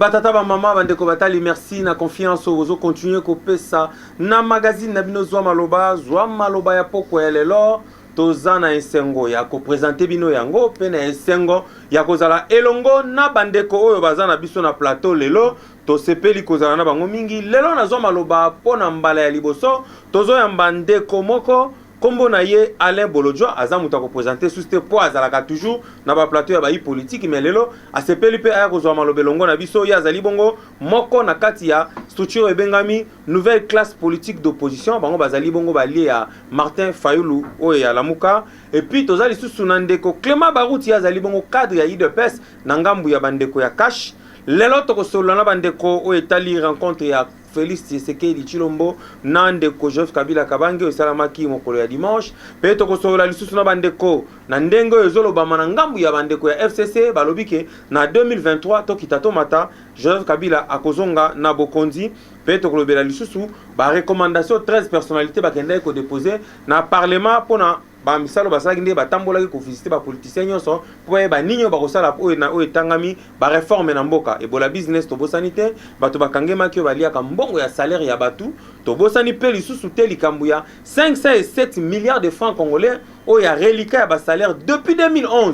Batata, bamama, bandeko batali, merci na confiance oyo bozo continuer kopesa na magazine na bino zwa maloba zwa maloba ya pokwa ya lelo toza na esengo ya kopresente bino yango mpe na esengo ya kozala elongo na bandeko oyo baza na biso na plateau lelo tosepeli kozala na bango mingi lelo nazwa maloba mpo na mbala ya liboso tozoyamba ndeko moko Kombo na ye Alain Bolodjwa aza moto ako presenter sous te po azalaka toujours na ba plateau ya ba yi politique mais lelo asepeli pe aya kozwa maloba elongo na biso ye azali bongo moko na kati ya structure ebengami nouvelle classe politique d'opposition bango bazali bongo ba lie ya Martin Fayulu oyo ya Lamuka et puis toza lisusu na ndeko Clement Baruti ye azali bongo cadre ya UDPS na ngambu ya bandeko ya Cash lelo tokosolola na bandeko oyo etali rencontre ya Felix Tshisekedi Tshilombo na ndeko Joseph Kabila Kabange oyo esalamaki mokolo ya dimanche, mpe tokosolola lisusu na bandeko na ndenge oyo ezolobama na ngambu ya bandeko ya FCC balobi ke na 2023 tokita tomata Joseph Kabila akozonga na bokonzi, mpe tokolobela lisusu ba recommandations 13 personnalites bakendaki ko deposer na parlement mpo na Ba misalu basalaki nde batambolaki ko visiter ba politiciens nionso mpo bayeba nini oyo bakosala oyo na oyo etangami ba reformes na mboka. Ebola business tobosani te, batu bakangemaki oyo baliaka mbongo ya salaire ya batu. Tobosani mpe lisusu te likambo ya 507 milliards de francs congolais oyo ya reliquat ya ba salaires depuis 2011.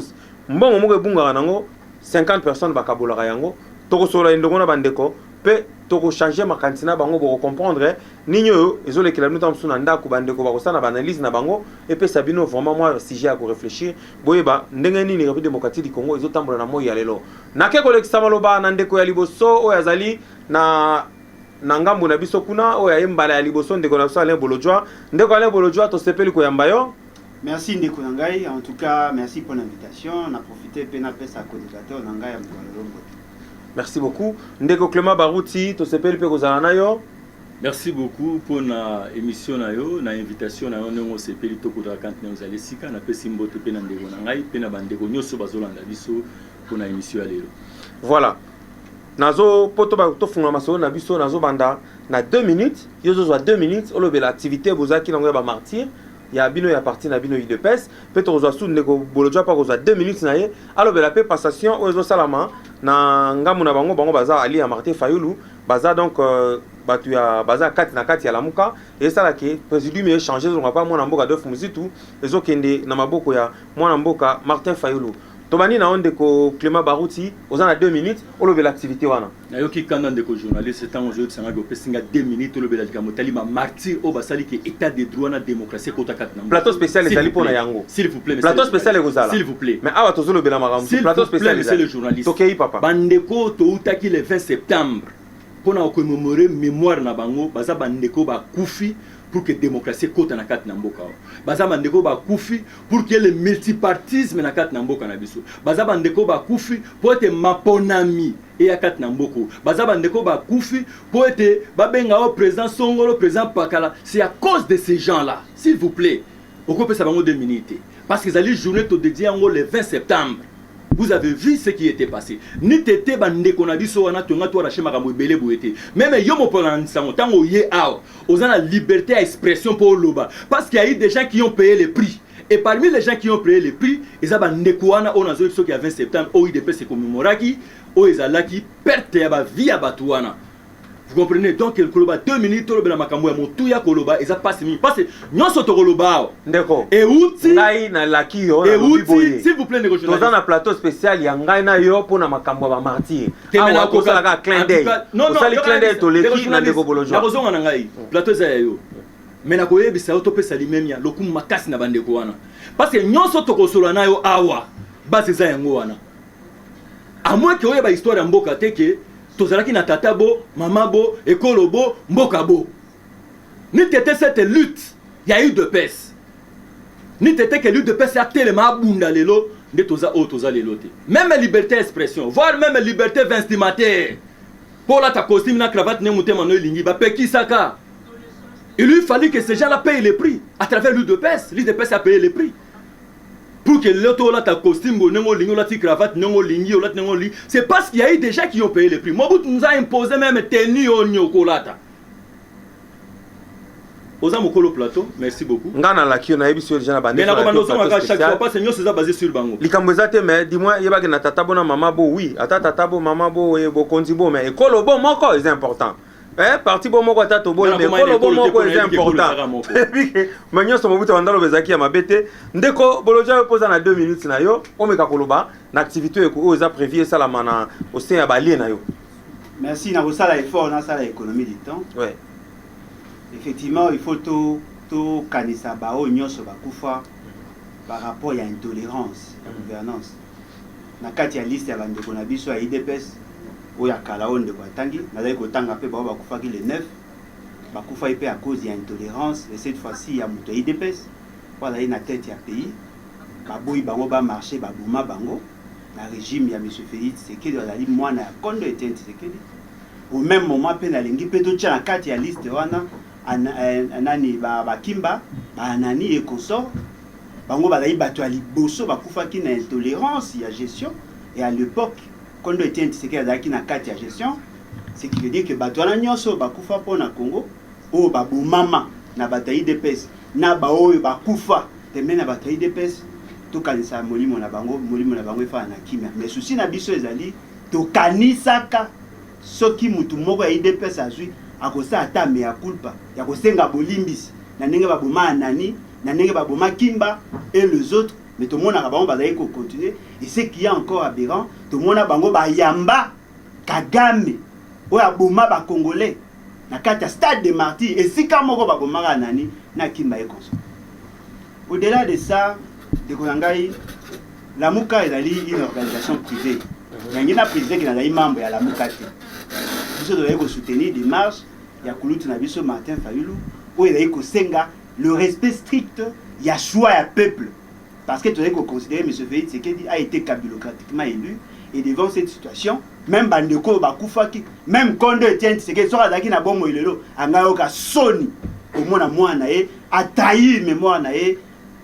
Mbongo moko ebungaka nango 50 personnes bakabolaka yango. Tokosolola elongo na ba ndeko. pe toko changer makanisi na bango boko comprendre nini oyo ezolekela bino ntango mosusu na ndako bandeko bakosala na baanalyse na bango epesa bino vraiment mwa sujet ya koreflechir boyeba ndenge nini république démocratique du congo ezotambola na moi ya lelo nake kolekisa maloba na ndeko ya liboso oyo azali na na ngambo na biso kuna oyo aye mbala ya liboso ndeko na biso alain bolodjwa ndeko alain bolodjwa tosepeli koyamba yo merci ndeko na ngai en tout cas merci mpo na invitation na profite mpe napesa coordinateur na ngai ya mokolo lombote Merci beaucoup. Ndeko Clement Baruti, tosepeli pe kozala na yo. Merci beaucoup mpo na émission na yo na invitation na yo ndenge osepeli tokuta kante na yo ozali esika napesi mbote mpe na ndeko na ngai mpe na bandeko nyonso bazolanda biso mpo na émission ya lelo voilà nazo mpo tofungola masolo na biso nazobanda na 2 minutes yo ozozwa 2 minutes olobela activité bozalaki nango ya bamartire ya bino ya parti na bino udps mpe tokozwa su ndeko bolodjo mpe akozwa 2 minutes na ye alobela mpe passation oyo ezosalama na ngambo na bango bango baza ali ya martin fayulu baza donc euh, bato ya baza kati na kati ya lamuka esala ke présidium echange ezonga mpa mwana mboka adolphe muzitu ezokende na maboko ya mwana mboka martin fayulu tobandi na yo ndeko clément baruti oza na 2 minutes olobela activité wana nayoki kanda ndeko journaliste ntango ozoyebisa ngai opesi ngai 2 minutes olobela likambo etali ba martyr oyo basali ke état de droit na démocratie ekota kati na plateau spécial ezali mpo na yango s'il vous plaît plateau spécial ekozala s'il vous plaît mais awa tozolobela makambo plateau spécial ezali tokei papa bandeko toutaki le 20 septembre mpo na kokomemore mémoire na bango baza bandeko bakufi pour que démocratie ekota na kati na mboka oyo baza bandeko bakufi pour que le multipartisme na kati na mboka na biso baza bandeko bakufi mpo ete maponami eya kati na mboko baza bandeko bakufi mpo ete babenga o président songolo président pakala c'est à cause de ces gens là s'il vous plaît okopesa bango 2 minutes te parce que ezali journée todedie yango le 20 septembre vous avez vu ce qui était passé nite te bandeko na biso wana tonga to arache makambo ebele boye te meme yo mopona na nsango ntango oye awa oza na liberté ya expression mpo oloba parce qu'il y a eu des gens qui ont payé le prix Et parmi les gens qui ont paye le prix, eza ba ndeko wana oyo nazo biso ki ya 20 septembre oyo UDPS e commemoraki oyo ezalaki perte ya ba vie ya batu wana. Vous comprenez? Donc koloba 2 minutes tolobela makambo ya motuya koloba eza pasi mingi parce nyonso tokoloba awa ndeko euti ngai na laki yo na lobi boye s'il vous plaît ndeko journaliste toza na plateau spécial ya ngai na yo pona makambo ya ba martyrs awa kozala ka clin d'œil osali clin d'œil toleki na ndeko bolojwa nakozonga na ngai plateau eza ya yo Mais nakoyebisa yo topesa limemia lokumu makasi na bandeko wana parce que nyonso tokosola na yo awa base eza yango wana amwe ke oyeba histoire ya mboka te ke tozalaki na tata bo mama bo ekolo bo mboka bo ni tete cette lutte ya udps ni tete ke l'udps atelema abunda lelo nde toza oyo toza lelo te meme liberté ya expression voire meme liberté vestimentaire mpo olata costume na cravate nde motema no elingi bapekisaka Il lui fallu que ces gens-là payent les prix à travers l'UDPS. L'UDPS a payé les prix. Pour que l'autre ola ta costume, bonengo lingi, ola ti cravate, nengo lingi, ola nengo lingi. C'est parce qu'il y a eu des gens qui ont payé les prix. Mobutu nous a imposé même tenue au nyokolata. oza mokolo plateau merci beaucoup ngai nalaki yo nayebisi yo deja na bande mais nakobanda ozongaka chaque fois parce que nyonso eza basé sur bango likambo eza te mais dimoi yebaki na tata bo na mama bo oui ata tata bo mama bo bokonzi bo mais ekolo bo moko eza important Eh, parti bo moko ata toboyi me ekolo bo moko eza important ma nyonso mobutu abanda loba ezalaki ya mabe te ndeko boloja yo mpoza na 2 minutes na yo omeka koloba na activité oyo oyo eza prévu esalama na osin ya balie na yo merci nakosala effort nasala économie du temps ouais. effectivement il faut tokanisa to baoyo nyonso bakufa par rapport ya intolérance ya mm. gouvernance na kati ya liste ya bandeko na biso ya udps oyo ya kala oyo ndeko atangi nazali kotanga mpe baoyo bakufaki le 9 bakufaki mpe à cause ya intolerance et cette fois-ci ya moto ya udps oyo azali na tete ya pays baboyi bango bamarche baboma bango na régime ya monsieur félix tshisekedi azali mwana ya kondo etienne tshisekedi au même moment mpe nalingi mpe totya na kati ya liste wana nani bakimba baanani et consort Bango bazali bato ya liboso bakufaki na intolerance ya gestion et à l'epoque Kondo Etienne Tshisekedi azalaki na kati ya gestion ce qui veut dire que bato wana nyonso oyo bakufa mpo na Congo oyo babomama na bato ya UDPS na baoyo bakufa pembeni na bato ya UDPS tokanisa molimo na bango molimo na bango efana na kimia mais susi na biso ezali tokanisaka Soki mutu moko ya udps azui akosala ata mea culpa ya kosenga bolimbisi na ndenge baboma Anani, na ndenge baboma Kimba et les autres mais tomonaka bango bazali ko continuer et ce qui est encore aberrant tomona bango bayamba Kagame oyo aboma ba congolais na kati ya stade de martyrs esika moko babomaka Anani na Kimba et consorts. Au delà de ça, ndeko na ngai Lamuka ezali une organisation privée. Yangi na président qui nazali membre ya Lamuka te. Biso tozali ko soutenir démarche ya kulutu na biso Martin Fayulu oyo ezali kosenga le respect strict ya choix ya peuple parce que tozali koconsidere M. Félix Tshisekedi a été kabilocratiquement élu et devant cette situation même bandeko oyo bakufaki même kondo Etienne Tshisekedi soki azalaki na bomoi lelo angayoka soni komona mwana na ye A trahir memoire na ye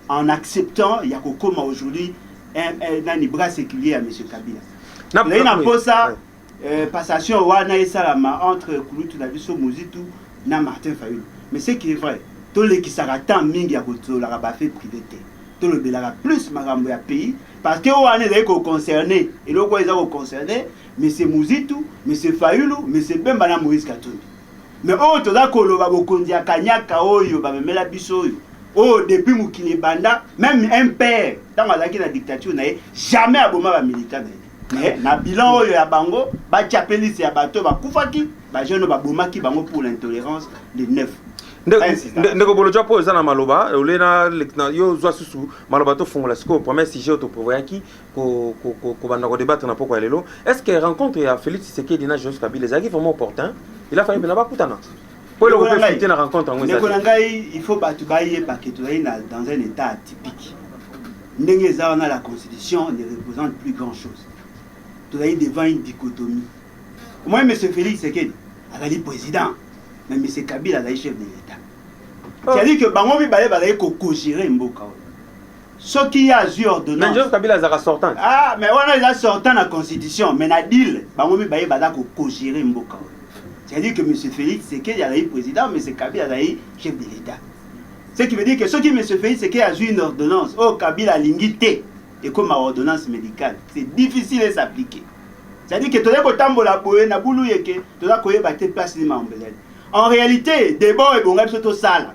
en acceptant ya kokoma aujourd'hui un, un, nani bras séculier ya monsieur Kabila. Na- Nazali na oui. mposa Ouais. euh, passation wana esalama entre kulutu na biso Muzitu na Martin Fayulu. Mais ce qui est vrai, tolekisaka temps mingi ya kotolaka ba faits privés te. Tolobelaka plus makambo ya pays parce que wana ezali ko concerner eloko oyo eza ko concerner monsieur Muzitu, monsieur Fayulu, monsieur Bemba na Moïse Katumbi. Mais oyo toza koloba bokonzi ya kanyaka oyo bamemela biso oyo oyo depuis mokili ebanda meme MPR ntango azalaki na dictature na ye jamais aboma ba militant na ye mais na bilan oyo ya bango batya mpe liste ya bato bakufaki bajeune oyo babomaki bango pour l'intolerance le 9 ndeko bolodja mpo eza na maloba ole na yo ozwa susu maloba tofungola sikoyo premier sujet oyo toprevoyaki kobanda ko debattre na poko ya lelo est ce que rencontre ya Felix Tshisekedi na Joseph Kabila ezalaki vraiment opportun il a fallu pena bakutana po eloko pe fite na rencontre yango ezali na ngai il faut bato bayeba ke tozali na dans un état atypique ndenge eza wana la constitution ne représente plus grand chose tozali devant une dichotomie omoi monsieur Felix Tshisekedi azali président mais monsieur Kabila azali chef de l'état oh. c'est à dire que bango mibale bazali kokogere mboka oyo soki ye azwi Mais ordonnance Joseph Kabila azalaka sortant. ah, mais wana eza sortant na constitution mais na deal bango mibale baza ko cogere mboka oyo c'est-à-dire que monsieur Félix Tshisekedi azali président monsieur Kabila azali chef de l'État ce qui veut dire que soki monsieur Félix Tshisekedi azwi une ordonnance oyo Kabila alingi te ekoma ordonnance médicale c'est difficile et s'appliquer c'est-à-dire que tozali kotambola boye na bulu yeke toza koyeba te place nini makambo ezali en réalité debat oyo ebonga biso tosala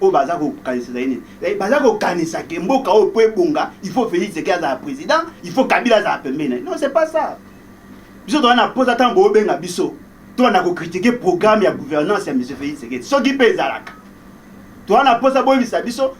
oyo baza kokanisela ye nini eh, baza kokanisa ke mboka oyo mpo ebonga il faut Felix Tshisekedi azala président il faut Kabila azala pembeni naye non c'est pas ça biso toza na posa ntango bobenga biso toza na kokritike programme ya gouvernance ya monsieur Felix Tshisekedi soki mpe ezalaka toza na posa boyebisa biso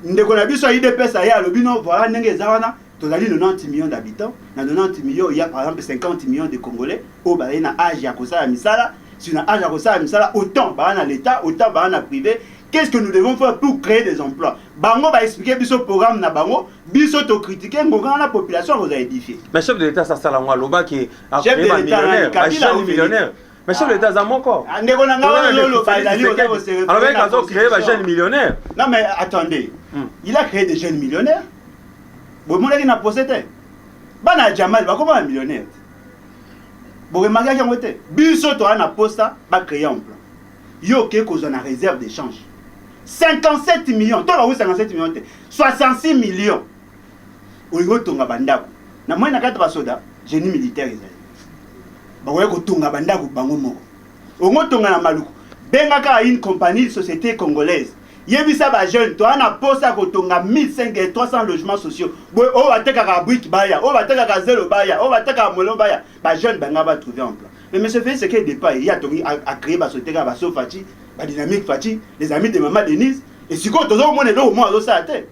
ndeko na biso ya idps aye alobi no voilà ndenge eza wana Tozali 90 millions d'habitants, na 90 millions il y a par exemple 50 millions de congolais oyo bazali na age ya kosala misala, si na age ya kosala misala autant baa na l'etat, autant baa na prive, qu'est-ce que nous devons faire pour créer des emplois? Bango ba expliquer biso programme na bango, biso to critiquer ngokana na population akozala edifie. Mais chef de l'etat sasala ngo aloba ke a Chef de créer ba l'etat nani? millionnaire, ba Kabila ou jeunes Felix? millionnaire. mais chef de l'état aza moko Ah, ndeko na nga wana lolo bazali oza ko se referer alors mec na azo créer ba constitution. jeunes millionnaires Non mais attendez, Hmm. il a créé des jeunes millionnaires. Bomonaki na procès te. Bana ya Jamal bakoma ba millionnaire. Boremarkaki yango te. Biso toa na posta ba créer emploi. Yo oke kozwa na réserve d'échange. 57 millions, to bawi 57 millions te. 66 millions. olingi otonga bandako na moyen na kati basoda génie militaire ezali bakoya kotonga bandako bango moko ongo tonga na maluku benga kaka une compagnie société congolaise yebisa ba jeune toa na posa kotonga 1500 300 logements sociaux boye oyo batekaka brique baya oyo batekaka zelo baya oyo batekaka molo baya ba jeune banga ba trouver emploi mais monsieur Félix Sekedi départ ye atongi a créer ba société kaka ba Sofati ba Dynamique Fati les amis de maman Denise et sikoyo tozomona eloko moko azosala te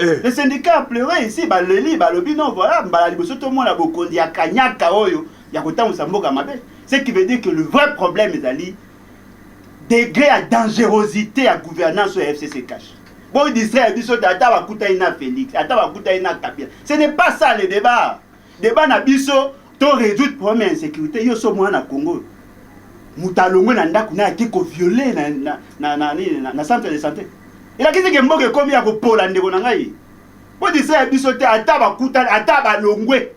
Eh. Les syndicats a pleure ici baleli balobi non voilà mbala liboso tomona bokonzi ya kanyaka oyo ya kotambwisa mboka mabe ce qui veut dire que le vrai problème ezali degré ya dangerosité ya gouvernance oyo ya fcc cash boy distraire biso te ata bakutani na félix ata bakutani na kabila ce n'est pas ça le débat Deba na biso to résoudre problème ya insécurité yo so mwana Congo moto alongwe na ndako na yaki ko violer na na na na, na, na centre de santé elakisi ke mboka ekomi ya kopola ndeko na ngai po disaya biso te ata bakutani ata balongwe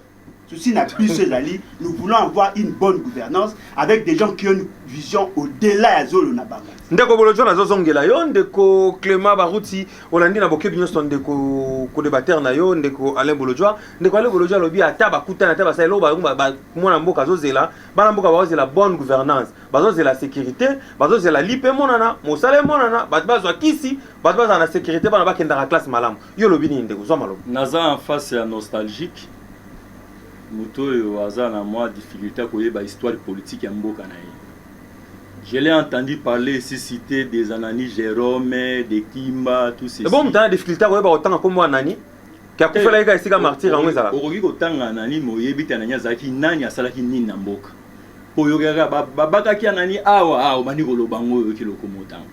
souci na biso ezali nous voulons avoir une bonne gouvernance avec des gens qui ont une vision au-delà ya zolo na bango ndeko bolojo nazozongela yo ndeko clément baruti Olandi na bokebi nyonso ndeko kodebatere na yo ndeko Alain Bolodjwa. Ndeko Alain Bolodjwa alobi ata bakutani ata basali eloko bango ba- ba- mwana mboka azozela, bana mboka bazozela bonne gouvernance, bazozela securite, bazozela lipa emonana, mosala emonana, bato bazwa kisi, bato bazala na securite, bana bakendaka classe malamu. Yo olobi nini ndeko? Zwa maloba. naza en face ya nostalgique moto oyo aza na mwa difficulté ya koyeba histoire politique ya mboka na ye Je l'ai entendu parler ici citer des Anani Jerome, des Kimba, tout ceci. Ebo mutana difficulté ya koyeba kotanga kombo ya Anani ke akufela ye ka esika martyr yango ezalaka. Okoki kotanga Anani mais oyebi te Anani azalaki nani, asalaki nini na mboka. Po oyokaka kaka ba babakaki Anani awa, ah obandi koloba yango oyoki lokumu otanga.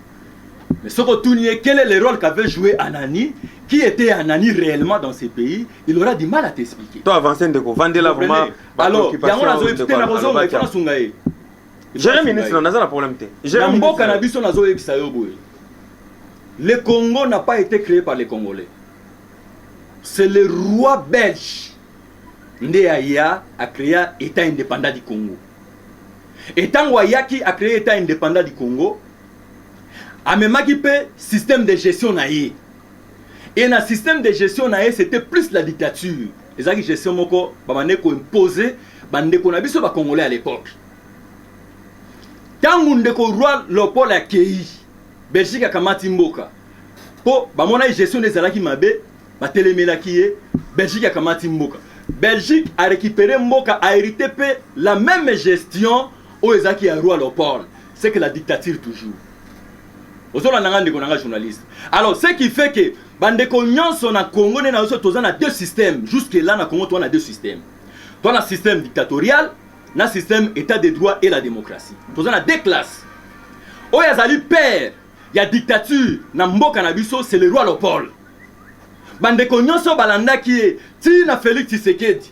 Mais soki otuni ye quel est le role qu'avait joué Anani, qui était Anani réellement dans ce pays, il aura du mal à t'expliquer. To avancer ndeko, vandela vraiment ba Alors, yango preoccupations nazoyebi ndeko te nakozonga, il faut alobaki. nasunga ye. Jere ministre na naza na problème te. Jere ministre. Mboka na biso nazo yebisa yo boye. Le Congo n'a pas été créé par les Congolais. C'est le roi belge nde aya a créé état indépendant du Congo. Et tango ayaki a créé état indépendant du Congo, amemaki pe système de gestion na ye. et na système de gestion na ye c'était plus la dictature ezalaki gestion moko babandaki koimpose bandeko na biso bacongolais à l'époque ntango ndeko roi leopold akei belgique akamati mboka mpo bamonaki gestion nde ezalaki mabe batelemelaki ye belgique akamati mboka belgique arécupere mboka ahérite mpe la même gestion oyo ezalaki ya roi leopold c'est que la dictature toujours ozolanda nga ndeko na nga journaliste alors ce qui fait que bandeko nyonso na congo nde na biso toza na deux système jusque là na congo toza na deux système toza na système dictatorial na système état de droit et la démocratie toza na deux classe oyo azali père ya dictature na mboka na biso c'est le roi lopole bandeko nyonso balandaki ye ti na félix tshisekedi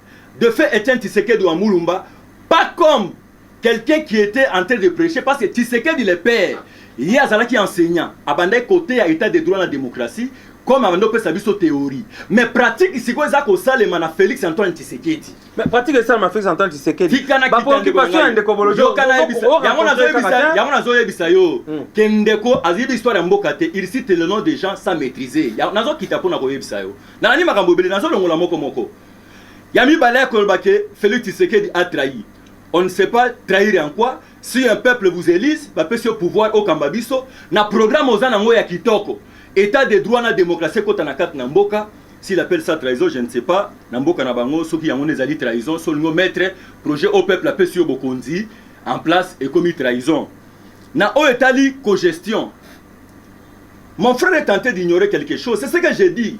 De fait Etienne Tshisekedi wa Mulumba pas comme quelqu'un qui etait en train de precher parce que Tshisekedi le père ye azalaki enseignant abandaki koteya etat de droit na democratie comme abandi opesa biso theorie mais pratique sikoyo eza kosalema na Felix Antoine Tshisekedi Mais pratique esalema Felix Antoine Tshisekedi tika na kita ndeko na ngai ndeko bolojo yoka na yebisa yango nazo yebisa yango nazo yebisa yo hmm. ke ndeko azibi histoire ya mboka te il cite le nom des gens sans maîtriser nazo kita pona ko yebisa yo na nani makambo ebele nazo longola moko moko Ya mibale ya koloba que Felix Tshisekedi a trahi. On ne sait pas trahir en quoi? Si un peuple vous elise, ba pesi yo pouvoir okamba biso, na programme oza nango ya kitoko, etat de droit na democratie ekota na kati na mboka, s'il appelle ça trahison, je ne sais pas na mboka na bango soki yango nde ezali trahison, si olingi o mettre projet oyo peuple apesi yo bokonzi en place ekomi trahison. Na oyo etali cogestion, mon frère est tente d'ignorer quelque chose, c'est ce que je dis.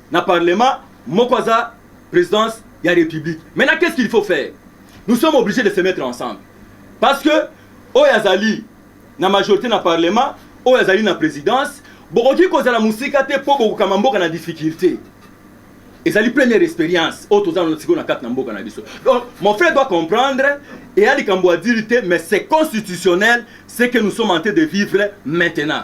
na parlement moko aza presidence ya republique maintenant qu'est-ce qu'il faut faire nous sommes obligés de se mettre ensemble parce que oyo azali na majorité na parlement oyo azali na présidence bokoki kozala mosika te mpo bokokama mboka na difficulté ezali première expérience oyo toza na sikoyo na kati na mboka na biso donc mon frère doit comprendre eya likambo adiri te mais c'est constitutionnel ce que nous sommes en train de vivre maintenant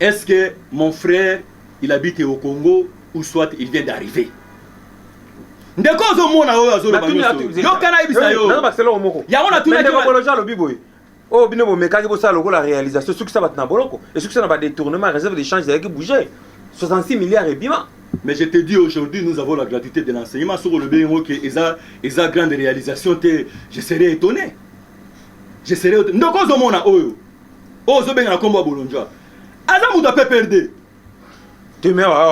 Est ce que mon frère il habite au Congo ou soit il vient d'arriver? ndeko ozomona oyo azolobaayoka nayebisa yo yango natunakoloji alobi boye oyo oh, bino bomekaki bosala lokola réalisation esukisa bato na boloko esukisa na badetournement réserve de change ezalaki bouge 66 milliards ebima mais je te dis aujourd'hui nous avons la gratuité de l'enseignement soki olobi yango ke eza, eza grande réalisation te je serai étonné je serai ndoko ozomona oyo oyo ozobenga na kombo ya bolondjwa aza moto ya pprd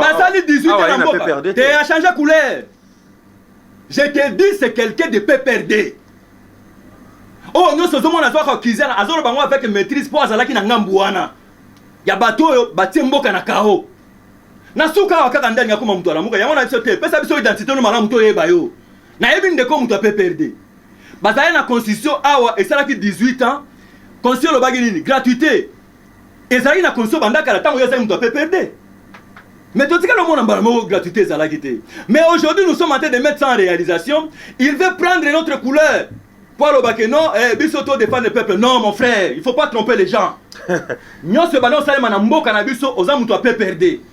basali 18 ans na mboka te a change couleur je te dis c'est quelqu'un de pprd oyo oh, nyonso ozomona azwaka kizana azoloba yango avec maîtrise mpo azalaki na ngambu wana ya bato oyo batie mboka na kao na suka awa kaka ndani akoma moto alamuka yango na biso te pesa biso identité no malamu toyeba yo nayebi ndeko moto ya pprd bazali na constitution awa esalaki 18 ans constitution elobaki nini gratuité ezalaki na constitution banda kala ntango ye azali moto ya pprd mais totikali omona mbala moko gratuité ezalaki te mais aujourd'hui nous sommes en train de mettre ça en réalisation il veut prendre notre couleur po aloba ke non eh, biso to défendre le peuple non mon frère il faut pas tromper les gens nyonso ebanda osalema na mboka na biso oza moto ya pprd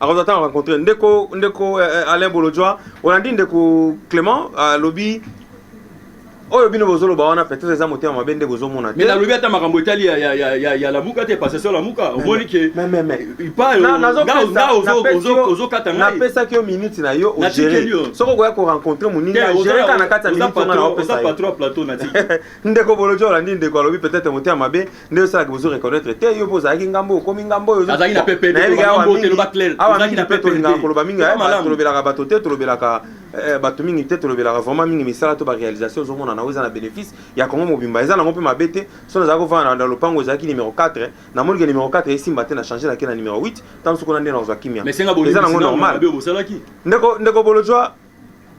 akozwa ntango rencontre ndeko ndeko eh, eh, alain bolodjwa olandi ndeko clément alobi oyo bino bozoloba wana peut-être eza motema mabe nde bozomona te nalobi ata makambo etali ya lamuka te passation lamuka omoni ke ozokata napesaki yo minute na yo ogere soki okoya korencontre moningagereka na kati ya minute wana naopesa ndeko bolodjwa olandi ndeko alobi peut-être motema mabe nde osalaka bozo reconnaitre te yo mpo ozalaki ngambo okomi ngambo oyo azalaki na ppd awa mingi mpe tolingaka koloba mingi tolobelaka bato te tolobelaka eh, bato mingi te tolobelaka vraiment mingi misala to baréalisation ozomona nango eza na bénéfice ya congo mobimba eza nango mpe mabe te so nazalaki kovanda na lopango ezalaki numero 4 namoni ke numero 4 esimba te na change nake na numero 8 ntango sokona nde nakozwa kimia eza nango normal ndeko bolojwa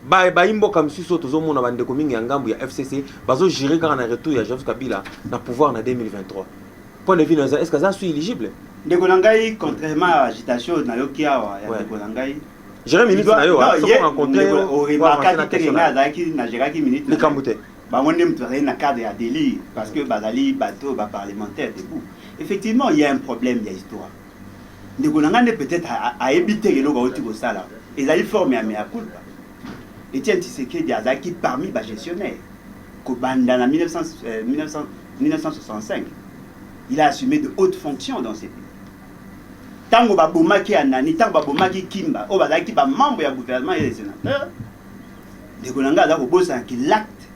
Ba bayi mboka misusu oyo tozomona bandeko mingi ya ngambu ya FCC bazo jure kaka na retour ya Joseph Kabila na pouvoir na 2023. Point de vue na eza est-ce que aza su eligible? Ndeko na ngai contrairement à agitation na yoki awa ya ndeko na ngai Jere minute na yo a soko rencontrer yo o remarquer que ndenge na azalaki na jeraki minute likambo te bango nde moto azali na cadre ya délire parce que bazali bato ba parlementaire debout effectivement il y a un problème ya histoire Ndeko na nga nde peut etre ayebi te eloko awuti kosala ezali forme ya mea culpa. Etienne Tshisekedi azalaki parmi ba gestionnaires kobanda na 1965 euh, il a assumé de hautes fonctions dans ce pays. Tango babomaki Anani, tango babomaki Kimba, oyo bazalaki ba membres ya gouvernement et les sénateurs, ndeko na nga aza kobosana ki l'acte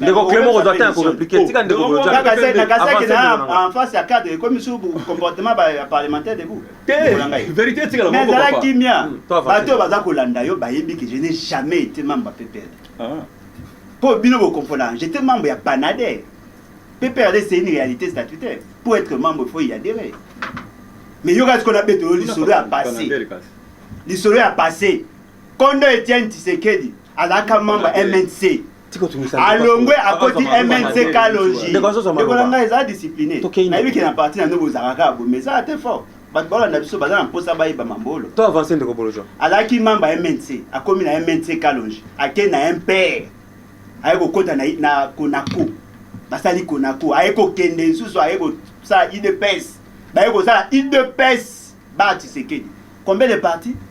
ndeko clement kozwa temps ya koreplike tika ndeko boyojakakasaki na en face ya cadre ekomi su comportement ya parlementaire debout verité etikala mais zala kimia bato oyo baza kolanda yo bayebi ke je n'ai jamais été membre ya ppr ah. mpo bino boconfondaka j'étais membre ya panade ppr c'est une réalité statutaire pour être membre il faut y adhérer mais yoka sikoyo na betolo lisolo ya passé lisolo ya passé kondo etienne tisekedi azalaka membre mnc alongwe akoti mnck longi ndeko na ngai eza discipline nayebi ke na parti na nde bozalaka kaka bomi eza ate fort bato balanda biso baza na mposa bayeba mambolo to avance ndeko bolojo azalaki membre ya mnc akomi na mnc kalonge ake na mpr aye kokota na, na konako basali konako aye kokende lisusu aye kosala idps baye kosala idps ba tisekedi combien de parti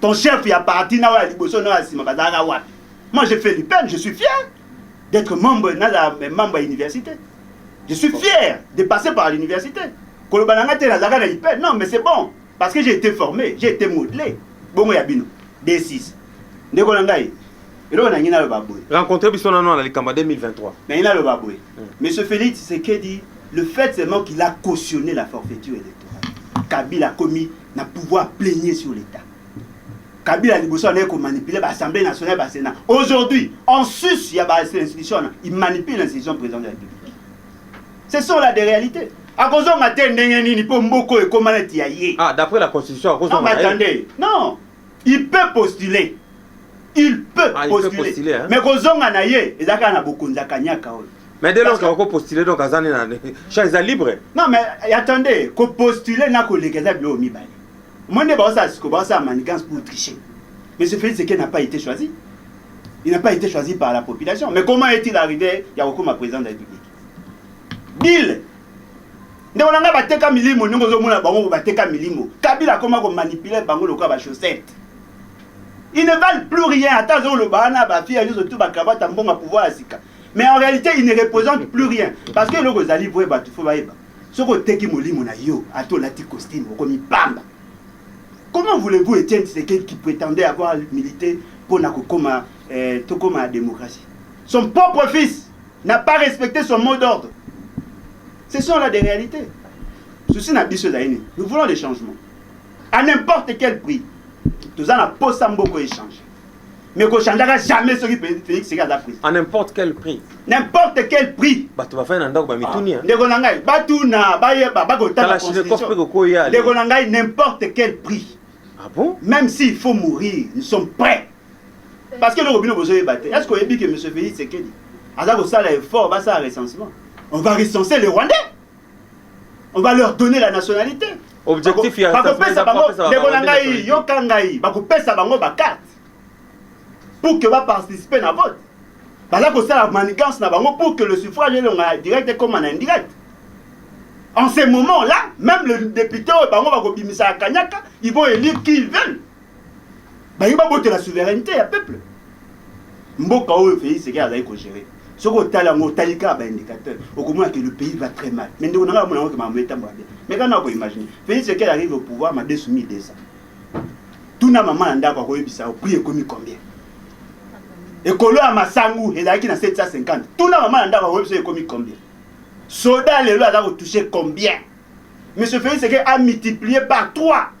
ton chef ya parti na oyo ya liboso na oyo ya nsima bazalaka wapi moi je fais l'upem je suis fier d'être membre nazala membre ya université je suis fier de passer par l'université koloba na ngai te nazalaka na ipem non mais c'est bon parce que j'ai été formé j'ai été modelé bongo ya bino d6 ndeko na ngai eloko nangi naloba boye rencontre biso nano na likambo ya 2023 nangi naloba boye hmm. monsieur félix sekedi le fait seulement qu'il a cautionné la forfaiture électorale kabila akomi na pouvoir plaignez sur l'État. Kabila liboso anaye ko manipuler ba assemblée nationale ba sénat. Aujourd'hui, en sus ya ba institutions, il manipule l'institution président de la République. Ce sont là des réalités. Akozonga te ndenge nini mpo mboko ekoma neti ya ye. Ah, d'après la constitution akozonga. Non, mais attendez. Non. il peut postuler il peut ah, postuler, postuler hein? mais kozonga na ye eza kaka na bokonzi ya kanyaka oyo mais dès lors ko postuler donc aza ne na champ eza libre non mais eh, attendez ko postuler na koleka eza biloko mibale moi nde baosala siko baosala manigance pour tricher mais ce fait c'est qu'il n'a pas été choisi il n'a pas été choisi par la population mais comment est-il arrivé ya kokoma président de la république bill ndeko na ngai bateka milimo ndenge ozomona bango bateka milimo kabila akoma komanipule bango lokola bachaussette il ne valent plus rien ata azoloba wana bafia nyonso tu bacravate ya mbongo ya pouvoir ya sika mais en réalité il ne représente plus rien parce que eloko ezali vrai bato fo bayeba soki oteki molimo na yo ata olati costume okomi pamba comment voulez-vous etienne tisekedi qui prétendait avoir milité mpo na kokoma eh, tokoma ya démocratie son propre fils n'a pas respecté son mot d'ordre Ce sont là des réalités. Souci na biso ezali nini? Nous voulons des changements. À n'importe quel prix. Toza na posa mboko échange. Mais ko changeaka jamais soki Félix sika aza prix. À n'importe quel prix. N'importe quel prix. Bato bafai na ndako ba mituni. Ah, ndeko na ngai batuna bayeba bakotala constitution. Ndeko na ngai n'importe quel prix. Ah bon? Même s'il faut mourir, nous sommes prêts. Parce que eloko bino bozoyeba te. Est-ce que oyebi que monsieur Félix Tshisekedi aza kosala effort basala recensement? On va recenser les Rwandais. On va leur donner la nationalité. Objectif ya bakopesa bango ndeko na ngai yoka ngai bakopesa bango ba carte pour que ba participer na vote. Baza kosala manigance na bango pour que le suffrage elonga direct ekoma na indirect. En ce moment-là, même le député oyo bango bakobimisaka kanyaka, ils vont élire qui ils veulent. balingi babotela souveraineté ya peuple mboka oyo Félix Tshisekedi azali kogere soki otali yango otali kaka baindicateur okomona ke le pays va très mal mais ndeko na ngai amona yango ke makambo etambola bien mais kana akoimagine Félix Tshisekedi arrive au pouvoir madesu 1200 tuna mama na ndako akoyebisa yo prix ekomi combien ekolo ya masangu ezalaki na 750 tuna mama na ndako akoyebisa yo ekomi combien soda lelo aza kotouche combien monsieur Félix Tshisekedi a multiplier par 3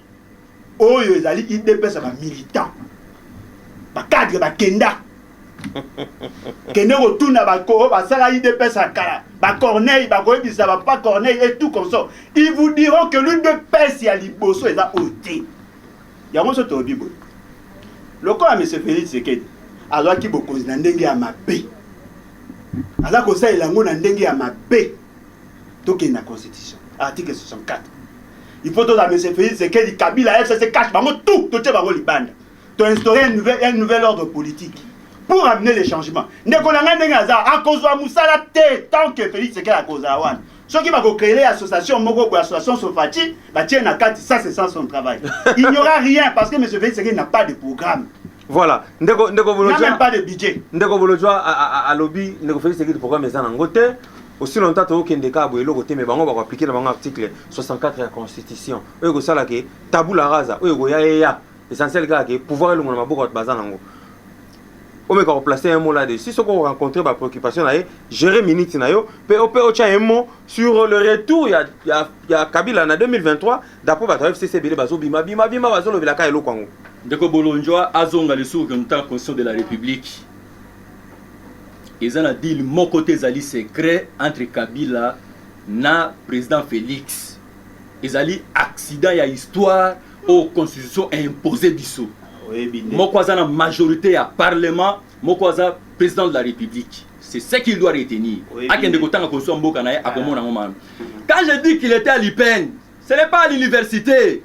oyo ezali idps ya bamilitant bacadre bakenda kende kotuna oyo basala idps ya kala bacorneille bakoyebisa bapa corneille et tout consort ils vous diront que l'udps ya liboso eza oyo te yango so tolobi boye lokola mese félix sekedi azwaki bokonzi na ndenge ya mabe aza kosalela yango na ndenge ya mabe tokende na constitution article 64 il faut tozala monsieur félix sekedi kabila fcc cache bango tout totie bango libanda toinstaure un nouvel, un nouvel ordre politique pour amener le changement ndeko na ngai ndenge aza akozwa mosala te tant que félix sekedi akozala wana soki bakocrele association moko boye association sofati batie na kati ça c'est sans son travail il n'y aura rien parce que monsieur félix sekedi n'a pas de programme Voilà, ndeko ndeko Bolodjwa. N'a même pas de budget. Ndeko Bolodjwa alobi ndeko Félix Sekidi programme eza nango te. Aussi longtemps tokokende kaka boye eloko te mais bango bako appliquer na bango article 64 ya constitution. Oyo ekosala ke tabula rasa oyo ekoya eya. Essentiel kaka ke pouvoir elongo na maboko bato baza nango. omeka koplace un mot là dessus soki okorencontre bapréoccupation na ye gérer minute na yo mpe ope otya un mot sur le retour ya, ya, ya kabila na 2023 Dapo bato ya FCC ebele bazo bima bima bima bazo lobela ka eloko yango. Ndeko Bolondjwa azonga lisusu ke mutant constitution de la Republique. Eza na deal moko te ezali secret entre Kabila na president Felix. Ezali accident ya histoire oyo constitution a impose biso. Moko aza na majorite ya parlement, moko aza president de la Republique. C'est ce qu'il doit retenir. Oui, Akende kotanga kosua mboka na ye ah. akomona ngo mabe. Quand je dis qu'il était à l'IPN, ce n'est pas à l'université.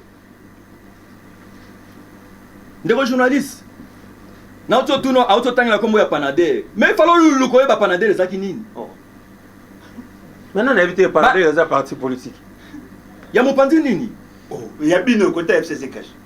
Ndeko journaliste, na oto tuno a oto tangela kombo ya Panader. Mais il fallait lulu ko yeba Panader ezaki nini? Oh. Maintenant na éviter Panader eza parti politique. Ya mopanzi nini? Oh, ya bino kota FCC cash.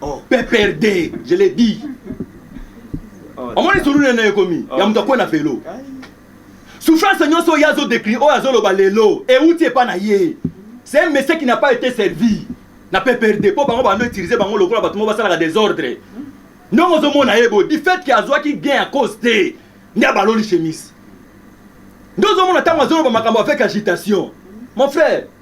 oh. pprd je le dis oh, omoni suru nene ekomi oh. ya moto akwe na velo souffrance nyonso oyo azo décri oyo azoloba lelo euti epa na ye c'est un monsieur qui n'a pas été servi na pprd mpo bango bando utilise bango lokola bato moko basalaka desordre ndongo ozomona ye boye du fait ke azwaki gain ya cause te nde abaloli chemise nde ozomona ntango azoloba makambo avec agitation mon frère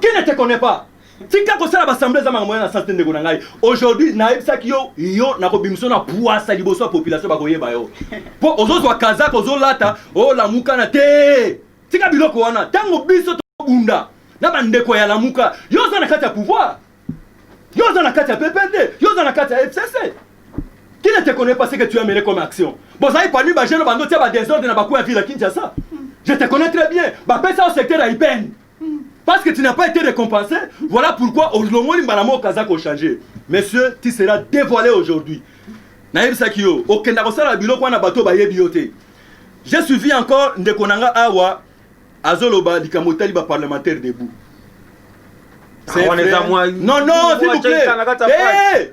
Qui ne te connaît pas? Tika kosala basamble eza makambo na sens te ndeko na ngai. Aujourd'hui nayebisaki yo yo nakobimisa na puasa liboso ya population bakoyeba yo. Po ozozwa kazaka ozolata olamuka na te. Tika biloko wana ntango biso tobunda na bandeko ya lamuka yo oza na kati ya pouvoir yo oza na kati ya PPRD yo oza na kati ya FCC qui ne te connaît pas ce que tu as mené comme action bozali parmi bagene bando tia badesordre na bakuya ville ya Kinshasa je te connais très bien bapesa yo secteur ya IPN Parce que tu n'as pas été récompensé, voilà pourquoi olongoli mbala moko aza ko changer. Monsieur, tu seras dévoilé aujourd'hui. Nayebisaki yo, okenda kosala biloko wana bato bayebi yo te. J'ai suivi encore ndeko na nga awa azoloba likambo etali ba parlementaire debout. Ah, non non, s'il vous plaît. Hey! Eh!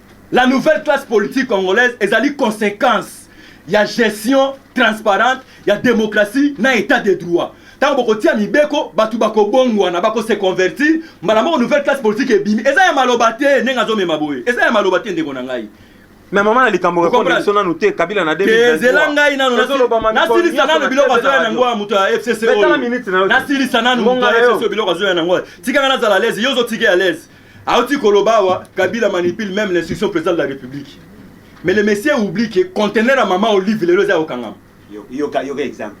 La nouvelle classe politique congolaise ezali consequence ya gestion transparente ya demokrasi na etat de droit ntango bokotia mibeko bato bakobongwana bakose convertir mbala moko nouvelle classe politique ebimi eza ya maloba te ndenge azomema boye eza ya maloba te ndeko na ngai me mama na likambo repondre biso nanu te kabila na ezela ngai nanu nasilisa nanu biloko azoya na yango ya moto ya fcc oyo nasilisa nanu moto ya fcc oyo biloko azoya na yango tika ngai nazala lese yo ozotika ya lese Auti koloba awa Kabila manipule même l'institution président de la République. Mais le monsieur oublie que conteneur à maman Olive lelo eza okangama. Yoka yoka exemple.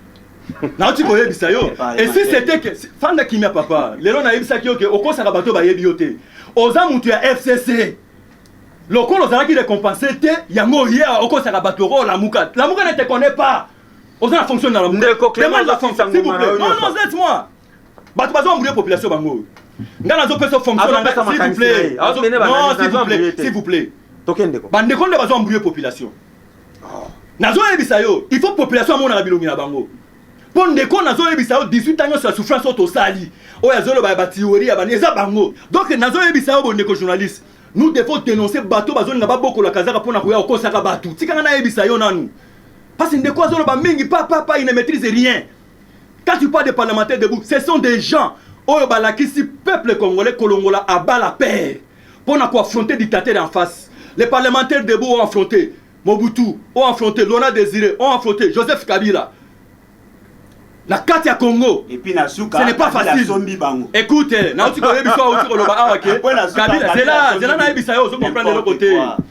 nauti koyebisa yo esi sete ke fanda kimia papa lelo nayebisaki yo ke okosaka bato bayebi yo te oza moto ya fcc lokola ozalaki récompense te yango oye okosaka bato oko olamuka lamuka ne te connais pas oza na fonction na lamuka demande la fonction s'il vous plaît non non laisse moi bato bazo embrouiller population bango oyo ngai nazopesa fonction na ngai s'il vous plaît non s'il vous plaît s'il vous plaît tokendeko bandeko nde bazo embrouiller population oh. nazoyebisa yo il faut population amonaka bilongi na bango mpo ndeko nazoyebisa yo 18 ans nyonso ya souffrance oyo tosali oyo azoloba ya batiori ya bani eza bango donc nazoyebisa yo bondeko journaliste nous devons dénoncer bato bazolinga babokola kazaka mpo na koya kokosaka bato tikanga nayebisa yo nanu mpasi ndeko azoloba mingi papapa il ne maîtrise rien Quand tu parles de parlementaires debout, ce sont des gens oyo balakisi peuple congolais kolongola à bas la père mpo na koaffronter dictateur en face. Les parlementaires debout ont affronté Mobutu, ont affronté Laurent Désiré, ont affronté Joseph Kabila. na kati ya congo Et puis na suka, ce n'est pas Kabila facile asombi bango. écoute nauti koyebisa auti koloba awa ke Après, na suka, kabila Kabila zela asombi zela bango. nayebisa yo ozo comprendre eloko N'importe te quoi.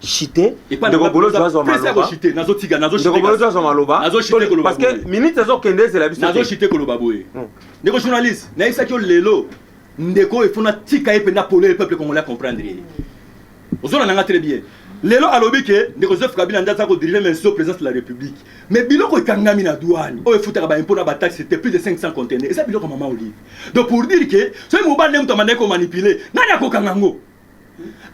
chite ndeko bolozi azwa malobaparceke minute ezokende ezela bisonazochite koloba boye hmm. ndeko journaliste nayebisaki yo lelo ndeko oyo efona tika ye mpenza polo ye peuple congolais comprendre ye ozona nanga très bien lelo alobi ke ndeko joseph kabila nde aza kodirige mais so présence de la république mais biloko ekangami na douane oyo efutaka baimpo na bataxe te plus de 500 contenaire eza biloko mama olive donc pour dire ke soki mobali nde moto amandaki komanipule nani akokanga yango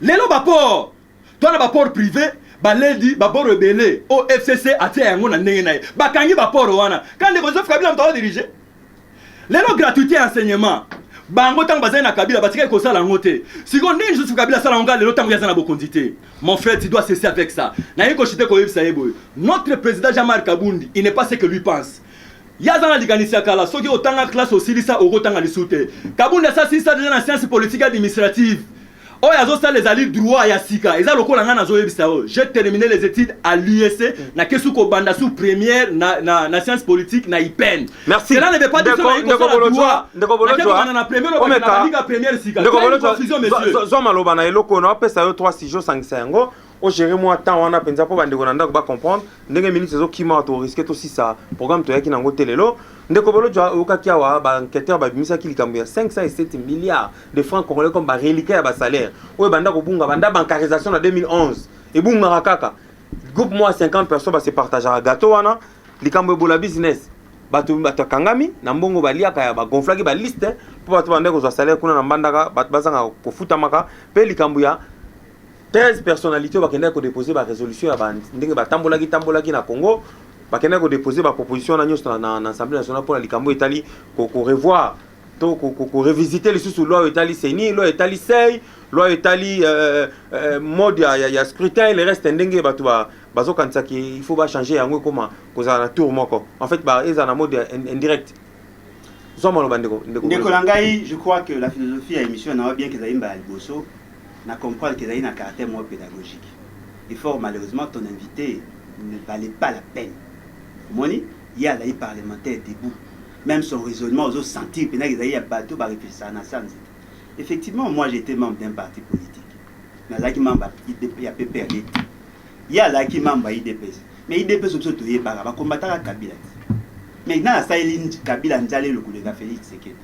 lelo baport to na baport prive baledi baboro ebele o fcc atia yango na ndenge na ye bakangi baporo wana ka ndeko joseph kabila moto aodirige lelo gratuité ya enseignement bango ntango bazali na kabila batikaki kosala yango te sikoyo ndenge joseph kabila asala yango lelo ntango ye aza na bokonzi te mon frère tu dois cesser avec ça nayebi koshite koyebisa ye boye notre président jean marc abundi il n'est pas ce que lui pense Ye aza na likanisi ya kala, soki otanga classe osilisa okotanga lisu te. Kabund asi asilisa deja na science politique administrative. Oyo azosala ezali droit ya sika, eza lokola ngai nazoyebisa yo j'ai termine les etudes à l'UEC, nakesi kobanda sous première na, na, na science politique na IPEN. Merci. Cela ne veut pas dire que nayi kosala droit. Ndeko Bolodjwa, ndeko Bolodjwa, na première obanda na liga première sika. Ndeko Bolodjwa, zwa maloba na eloko na opesa yo trois sujets osangisa yango. o gérer mwa temps wana mpenza mpo bandeko na ndako ba comprendre ndenge minutes ezokima awa toriske tosisa programme toyaki na yango te lelo ndeko bolojwa oyokaki awa baenquêteur babimisaki likambo ya 507 milliards de francs congolais comme bareliquat ya basalaire oyo ebanda kobunga banda bancarisation na 2011 ebungaka kaka groupe mwa 50 personnes base partageaka gato wana likambo ebola business bato bato akangami na mbongo baliaka ya bagonflaki baliste mpo bato bandaki kozwa salaire kuna na mbandaka bato bazanga kofutamaka mpe likambo ya 13 personnalités oyo bakendaki kodepose ba resolution ya ba ndenge batambolaki tambolaki na congo bakendaki kodepose ba proposition wana nyonso na, na assemblée nationale mpo na likambo etali korevoir to korevisite lisusu loi oyo etali seni loi etali sei loi oyo etali euh, euh, mode ya, ya, ya scrutin le reste ndenge bato ba, bazokanisaki il faut bachange yango ekoma kozala na tour moko en fait ba, ezala na mode indirect zwa maloba ndeko ndeko na ngai je crois que la philosophie ya émission na yo bien kezali mbala liboso Na comprendre que ezali na caractère moko pedagogique. Et fort malheureusement, ton invite ne valait pas la peine. Omoni? Ye azali parlementaire debout. Meme son raisonnement ozo sentir penza que ezali ya batu ba reflechisaka na se ya nzete. Effectivement, moi j'etais membre d'un parti politique. Nazalaki membre ya PPRD te. Ye azalaki membre ya udps. Mais udps oyo biso toyebaka, ba combattaka Kabila te. Mais nani asaleli Kabila nzala eloko koleka Felix Tshisekedi?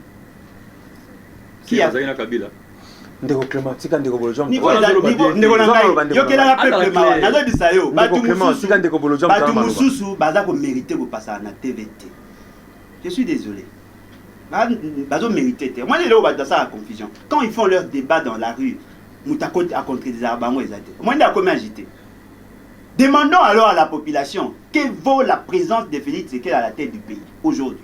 Qui a- Azali na Kabila. ndeko clement tika ndeko bolojwa yokelaka peple mawa nazobisa yo bato mosusu baza komerite kopasaka na tv te je suis désolé bazo mérité te omoni eloko bato basala confusion quand ils font leur débat dans la rue moto akontredisaka bango eza te omoni nde akomi agité demandons alors à la population que vaut la présence de félix sekela à la tête du pays aujourd'hui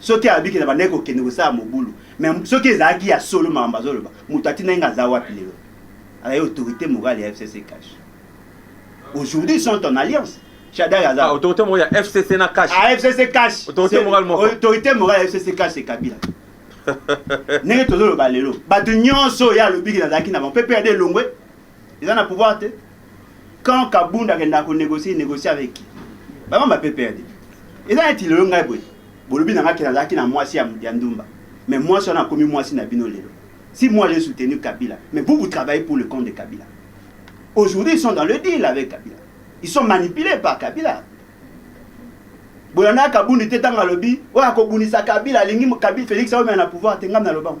soki abiki na bandaki kokende kosala mobulu me soki ezalaki ya solo makambo azoloba moto atindaki nga aza wapi lelo azali autorité morale ya fcc cash aujourd'hui sont en alliance shadari aza ah, autorité morale ya fcc na cash ah, fcc cash autorité morale moko autorité morale ya fcc cash c'est kabila ndenge tozoloba lelo bato nyonso oyo alobiki nazalaki na bango mpe mpe ade elongwe eza na pouvoir te quand kabund akendaka ko negocier negocier avec qui ba mama PPRD eza neti lelo ngai boye bolobi na ngai ke nazalaki na mwasi ya, ya ndumba mais mwasi wana akomi mwasi na bino lelo si moi j'ai soutenu Kabila mais vous vous travaillez pour le compte de Kabila aujourd'hui ils sont dans le deal avec Kabila ils sont manipulés par Kabila bolandaka kabundi te ntango alobi oyo akobundisa kabila alingi kabila félix aomema na pouvoir te ngai nalobango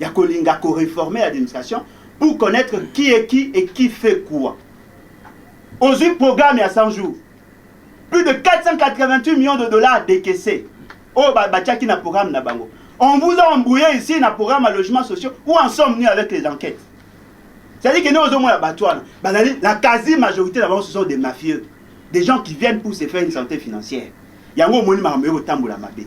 ya kolinga ko reformer administration pour connaître qui est qui et qui fait quoi ozwi programme ya 100 jours plus de 488 millions de dollars décaissés oyo batiaki na programme na bango on vous a embrouillé ici na programme ya logement sociaux où en sommes nous avec les enquêtes c'est-à-dire que nous ozomona bato wana bazali la quasi majorité na bango ce sont des mafieux des gens qui viennent pour se faire une santé financière yango omoni makambo yo kotambola mabe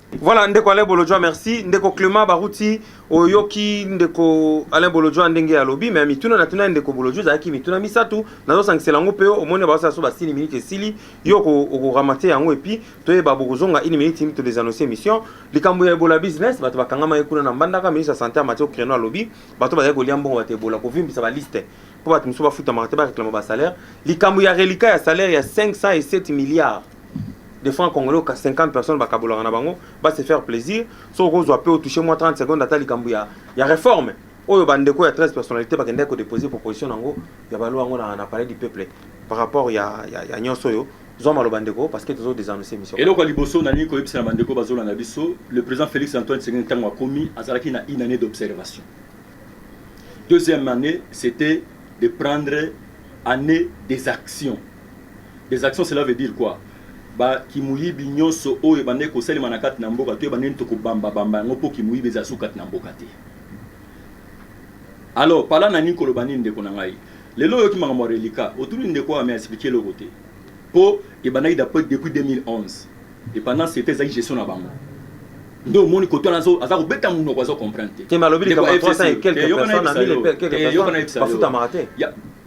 Voilà ndeko Alain Bolodjwa merci ndeko Clement Baruti oyoki ndeko Alain Bolodjwa ndenge ya lobi mais mituna na tuna ndeko Bolodjwa ezalaki mituna misato nazo sangisela yango pe omoni ba sala so ba sili minute esili yo ko ko ramate yango et puis toyeba bokozonga une minute to des annonces émission likambo ya Ebola business bato bakangama ye kuna na Mbandaka ministre ya santé ya Mathieu Creno alobi bato bazali kolia mbongo bato Ebola kovimbisa ba liste mpo bato mosusu bafutamaka te bareklama basalaire likambo ya relika ya salaire ya 507 milliards des francs congolais oka 50 personnes bakabolaka na bango ba se faire plaisir soki okozwa mpe otouche mwa 30 secondes ata likambo ya, ya réforme oyo bandeko ya 13 personnalité bakendaki kodepose proposition na yango ya balwa yango na, na palais du peuple par rapport ya, ya, ya nyonso oyo zwa maloba ndeko parce que tozo desannonce émission eloko ya liboso nalingi koyebisa na bandeko bazolanda biso le président félix antoine tshisekedi ntango akomi azalaki na une année d'observation deuxième année c'était de prendre année des actions Des actions cela veut dire quoi? Ba kimuyibi nionso oyo ebandaki kosalema na kati na mboka to ebandeni toko bamba bamba yango po kimuyibi ezala suka kati na mboka te. Alors par là na lingi koloba nini ndeko na ngai? Lelo oyoki makambo ya reliquat, otuni ndeko oyo ame expliquer eloko te. Po ebandaki d'après depuis 2011 et pendant ce temps ezalaki gestion na bango. Nde omoni koto wana azo aza kobeta munoko azo comprendre te. Te mais alobi Ndeko likambo ya ya likambo ya 300 et FCC, quelques eh, yoka personnes na nayebisa yo, yebisa na 1000 et quelques eh, yoka personnes nayebisayo. bafutamaka te. Ya-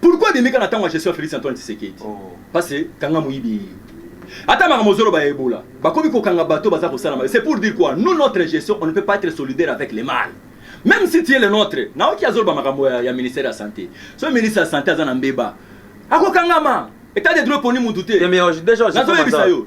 Pourquoi abimi kaka na tango ya gestion ya Felix Antoine Tshisekedi? Oh. Parce que kanga moyibi ye. Ata makambo ozoloba ya Ebola, bakomi kokanga bato baza kosala mabe. C'est pour dire quoi? Nous notre gestion, on ne peut pas être solidaire avec les mal. Même si tu es le nôtre, na oki azoloba makambo ya, ya ministère ya santé. So ministre ya santé aza na mbeba. Akokangama. Etat de droit poni mutu te. Te mais déjà, Nazoyebisa yo.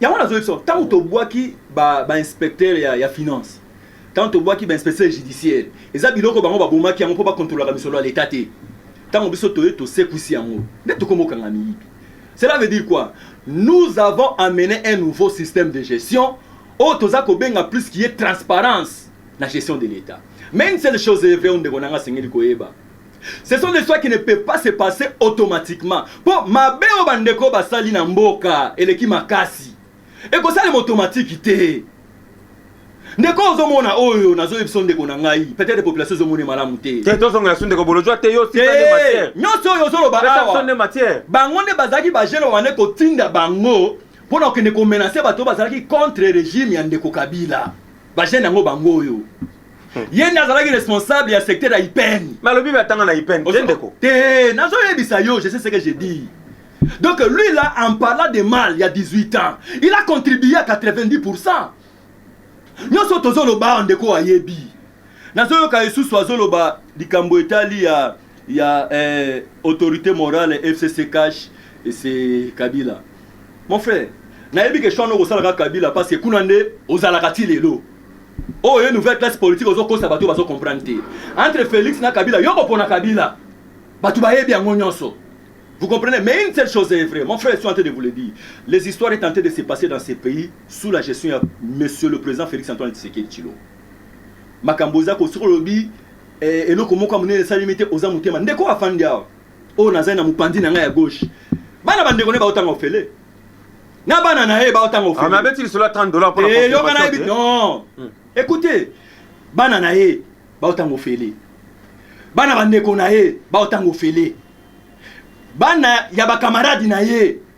yango nazoyebisa ntango tobwaki bainspecteur ba ya, ya finance ntango tobwaki bainspecteur judiciaire eza biloko bango babomaki yango mpo bakontrolaka misolo ya leta te ntango biso toye tosekwisi yango nde tokomokanga miyibi cela veut dire quoi nous avons amené un nouveau système de gestion oyo toza kobenga plus qui est transparence na gestion de l'etat mais une seule chose est vrai oyo ndeko nanga asengeli koyeba Ce sont des soins qui ne peuvent pas se passer automatiquement. Po mabe oyo bandeko basali na mboka eleki makasi. Ekosalema automatique te. ndeko ozomona oyo nazoyebisa ndeko na ngai peut-être population ezomona malamu te te tozonga ya ndeko bolojwa te yo nyonso oyo ozoloba awa bango nde bazalaki bagene wana kotinda bango mpo na kokende komenase bato bazalaki contre regime ya ndeko kabila bagene yango bango oyo ye nde azalaki responsable ya secteur ya ipene balobi batanga na ipene te ndeko te nazoyebisa yo je sais ce que je dis donc lui là en parlant de mal ya 18 ans il a contribué à 90 pourcent nyonso tozoloba awa ndeko ayebi nazoyoka esusu azoloba likambo etali ya ya eh, autorité morale fcc cash c'est kabila mon frère nayebi ke shwano okosalaka kabila parce que kuna nde ozalaka ti lelo oyo oh, ye nouvelle classe politique ozokosa bato bazo comprendre te entre félix na kabila yo kopona kabila bato bayebi yango nyonso Vous comprenez Mais une seule chose est vraie. Mon frère, je suis en train de vous le dire. Les histoires sont en train de se passer dans ces pays sous la gestion de Monsieur le Président Félix Antoine Tshisekedi Chilo. Makamboza ko solobi Eh, eloko moko ya monene esalemi te, oza motema. Ndeko afandi awa, oyo nazali na mopanzi na ngai ya gauche, bana bandeko ne baotanga ofele na bana na ye baotanga ofele. Ah, mais abeti lisolo ya 30 dollars mpo na eh, yoka na yebi non. Hmm. Écoutez, bana na ye baotanga ofele, bana bandeko na ye baotanga ofele, bana ya bakamaradi na ye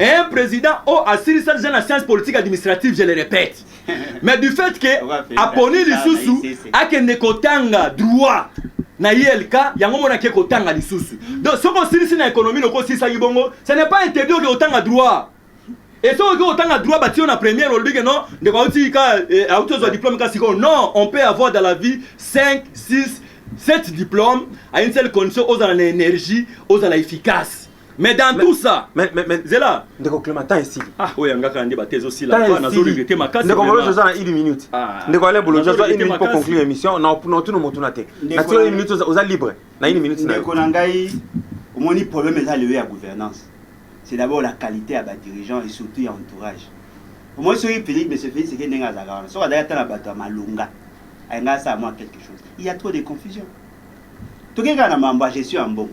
Un president oyo oh, asilisa deja na science politique administrative je le répète mais du fait que aponi lisusu akende kotanga droit na ilk yango mona ake kotanga lisusu mm. donc soki osilisi na économie loko osilisaki bongo ce n'est pas interdit oke kotanga droit et soki oke kotanga droit batiyo na première olobi ke non ndeko auti ka eh, auti ozwa diplôme ka sikoyo non on peut avoir dans la vie 5 6 7 diplôme à une seule condition ozala na énergie ozala efficace mais dans tout ça mais mais mais zela ndeko clement temps esili ah oya ngaka nde bate ezo sila pa nazo regretter makasi ndeko bolo joza na 1 minute ah. ndeko ale bolo joza 1 minute pour conclure émission na na tuna motu na te na tuna 1 minute oza libre na 1 minute na ndeko na ngai omoni problème eza lewe ya gouvernance c'est d'abord la qualité ya ba dirigeants et surtout ya entourage omoni soki Félix monsieur Félix eke ndenge azalaka wana soki azalaki ata na bato ya malonga ayinga asala mwa quelque chose il y a trop de confusion tokekaka na mambo ya gestion ya mbongo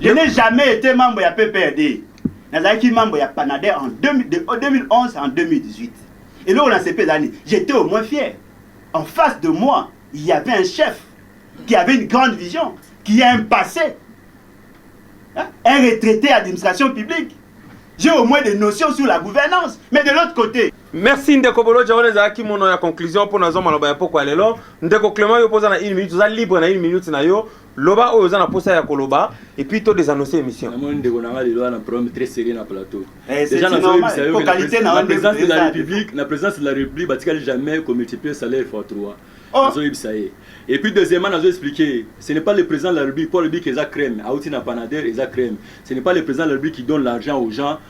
Je n'ai jamais été membre ya PPRD. Nazalaki membre ya Panader en 2011 en 2018. Et là, on a CP d'année. J'étais au moins fier. En face de moi, il y avait un chef qui avait une grande vision, qui a un passé, hein? un retraité à l'administration publique. J'ai au moins des notions sur la gouvernance. Mais de l'autre côté, merci ndeko boloja wana ezalaki mono ya conclusion mpo nazwa maloba ya pokwa lelo ndeko clement yo mpoza na une minute oza libre na une minute na yo Loba oyo oza na posa ya koloba et puis to désannoncer émission. Na moni ndeko na nga lelo na problème très sérieux na plateau. Eh, Déjà na zoe bisa yo na présence de la République, na présence de la République batikali jamais ko multiplier salaire fois 3. Oh. Na zoe bisa ye. Et puis deuxièmement na zo expliquer, ce n'est pas le président de la République pour le bic eza crème, auti na panader eza crème. Ce n'est pas le président de la République qui donne l'argent aux gens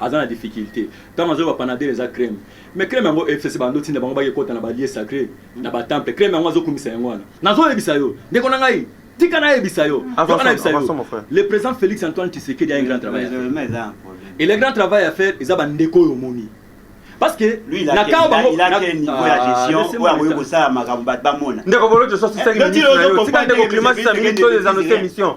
aza na difficulte tango azoyoka panadel eza crème mais crème yango FCC bando otinda bango bake kota na ba lieu sacré na ba temple crème yango azo kumisa yango wana nazo yebisa yo ndeko na ngai tika na yebisa yo yoka na yebisa yo le président Félix Antoine Tshisekedi a un grand travail et le grand travail à faire eza ba ndeko yo moni parce que lui la kao bango il a quel niveau ya gestion oyo akoki kosala makambo bato bamona ndeko bolojo sosi 5 minutes tika ndeko climat 5 minutes oyo eza note émission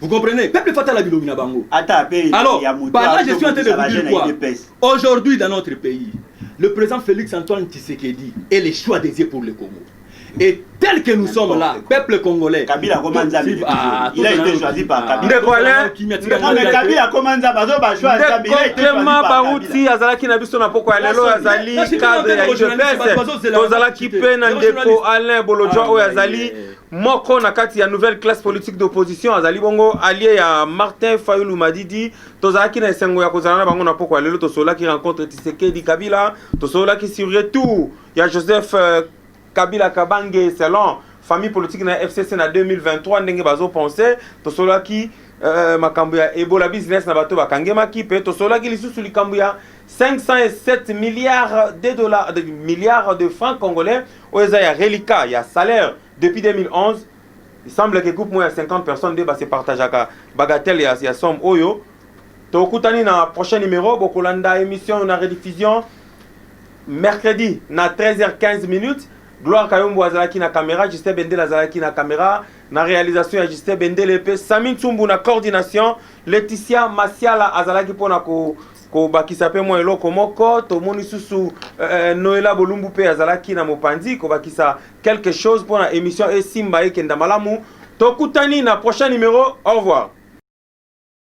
Vous comprenez Peuple faut la bilobi na bango. Alors, là, je suis en train de vous dire quoi Aujourd'hui, dans notre pays, le président Félix Antoine Tshisekedi est le choix dédié pour le Congo. Et tel que nous sommes là, peuple congolais. Kabila Komanzambi. Ah, il a été choisi par ah, Kabila. Ndeko Alain. Non mais Kabila Komanzambi azo ba choix Kabila. Il a été choisi par Baruti azalaki na biso na poko ya lelo azali cadre ya UDPS. Tozalaki pe na ndeko Alain Bolodjo ah, oyo azali Moko na kati ya nouvelle classe politique d'opposition azali bongo allié ya Martin Fayulu Madidi. Tozalaki na esengo ya kozala na bango na pokwa lelo, tosololaki rencontre Tshisekedi Kabila, tosololaki sur retour ya Joseph euh, Kabila Kabange selon famille politique na FCC na 2023 ndenge bazo penser, tosololaki euh, makambo ya Ebola business na bato bakangemaki pe tosololaki lisusu likambo ya 507 milliards de dollars de milliards de francs congolais oyo eza ya reliquat ya salaire depuis 2011 il semble que groupe moko ya 50 personnes nde base partageaka bagatelle ya, ya somme oyo tokutani na prochain numéro bokolanda émission na rediffusion mercredi na 13h15 minutes gloire kayombo azalaki na caméra justin bendele azalaki na caméra na réalisation ya justin bendele mpe sami nsumbu na coordination laetitia masiala azalaki mpo na ko Kobakisa mpe mwa eloko moko, tomoni susu eh, Noela Bolumbu mpe azalaki na mopanzi kobakisa quelque chose mpo na emission esimba ekenda malamu. Tokutani na prochain numero. Au revoir.